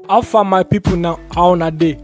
how far my people now how una dey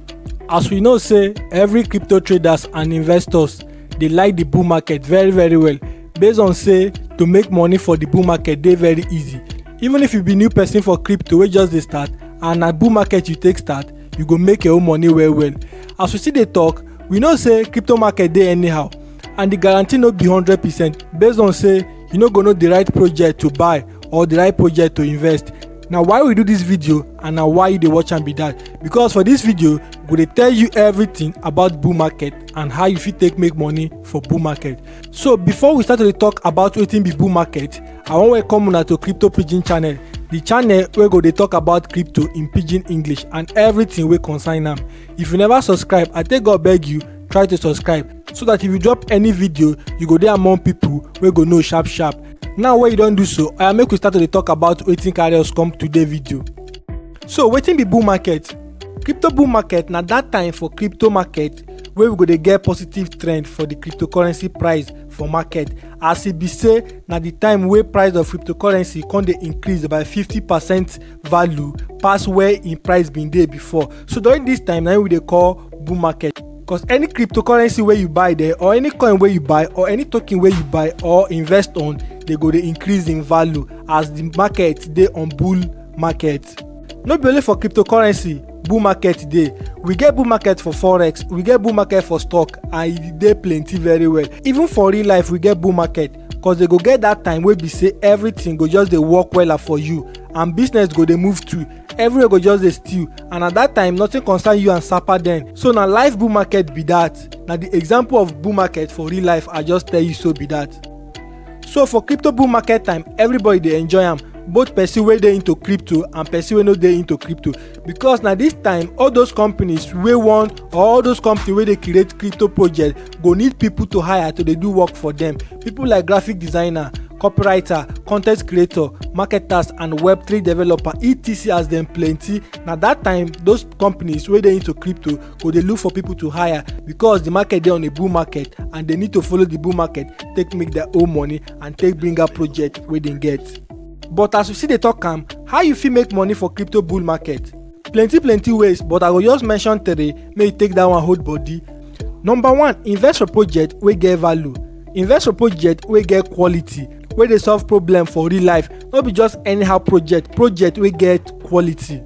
as we know say every crypto traders and investors dey like the bull market very very well based on say to make money for the bull market dey very easy even if you be new person for crypto wey just dey start and na bull market you take start you go make your own money well well as we still dey talk we know say crypto market dey anyhow and the guarantee no be hundred percent based on say you no go know the right project to buy or the right project to invest na why we do this video and na why you dey watch am be that because for this video we go dey tell you everything about bull market and how you fit take make money for bull market so before we start to dey talk about wetin be bull market i wan welcome una to crypto pidgin channel the channel wey go dey talk about crypto in pidgin english and everything wey concern am if you never subscribe i take god beg you try to subscribe so that if you drop any video you go dey among people wey go know sharp sharp now wey you don do so oya make we start to dey talk about wetin carry us come today video so wetin be bull market crypto bull market na that time for crypto market wey we go dey get positive trend for the cryptocurrency price for market as e be say na the time wey price of cryptocurrency come dey increase by 50 percent value pass where im price bin dey before so during this time na im we dey call bull market Cause any cryptocurrency wey you buy there or any coin wey you buy or any token wey you buy or invest on dey go dey increase in value as the market dey on bull market. No be only for cryptocurrency bull market dey, we get bull market for forex, we get bull market for stock and e dey plenty very well. Even for real life we get bull market cause dey go get that time wey be say everything go just dey work wella for you and business go dey move too. everywhere go just dey stew and at that time nothing concern you and sapa then so na life bull market be that na the example of bull market for real life i just tell you so be that so for crypto bull market time everybody dey enjoy am both person wey dey into crypto and person wey no dey into crypto because na this time all those companies wey wan or all those companies wey dey create crypto project go need people to hire to dey do work for them People like graphic designer, copywriter, content creator, marketers and web3 developer etc as dem plenty na that time those companies wey dey into crypto go dey look for people to hire because the market dey on a bull market and they need to follow the bull market take make their own money and take bring out project wey dem get. But as we still dey talk am, how you fit make money for crypto bull market? plenty plenty ways but i go just mention three make you take that one hold body number one invest for project wey get value invest for project wey get quality wey dey solve problem for real life no be just anyhow project project wey get quality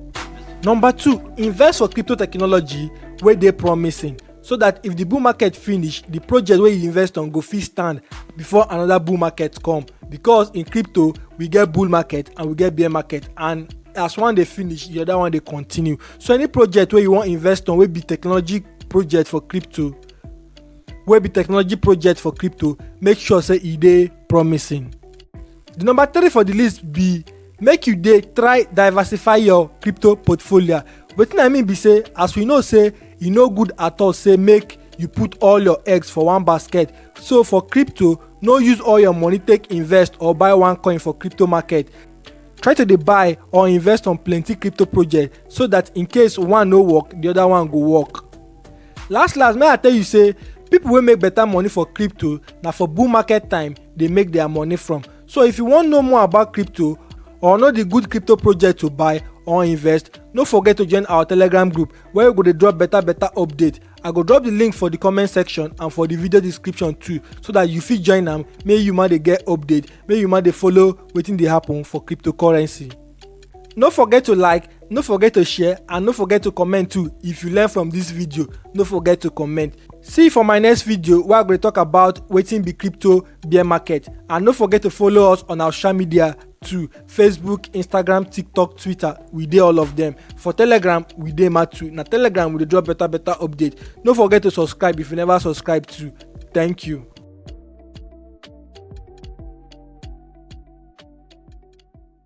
number two invest for crypto technology wey dey promising so that if the bull market finish the project wey you invest on go fit stand before another bull market come because in crypto we get bull market and we get bear market and as one dey finish the other one dey continue so any project wey you wan invest on wey be technology project for crypto wey be technology project for crypto make sure say e dey promising The number three for the list be make you dey try diversify your crypto portfolio wetin i mean be say as we know say e no good at all say make you put all your eggs for one basket so for crypto no use all your money take invest or buy one coin for crypto market try to dey buy or invest on plenty crypto project so that in case one no work the other one go work last last may i tell you say people wey make better money for crypto na for bull market time dey make their money from. So if you wan know more about crypto or know the good crypto project to buy or invest, no forget to join our Telegram group where we go dey drop better better update. I go drop the link for the comment section and for the video description too so that you fit join am make you ma dey get update, make you ma dey follow wetin dey happen for cryptocurrency. no forget to like no forget to share and no forget to comment too if you learn from this video no forget to comment see you for my next video wey i go talk about wetin be crypto bear market and no forget to follow us on our social media too facebook instagram tiktok twitter we dey all of them for telegram we dey ma too na telegram we dey drop better better update no forget to subscribe if you never subscribe too thank you.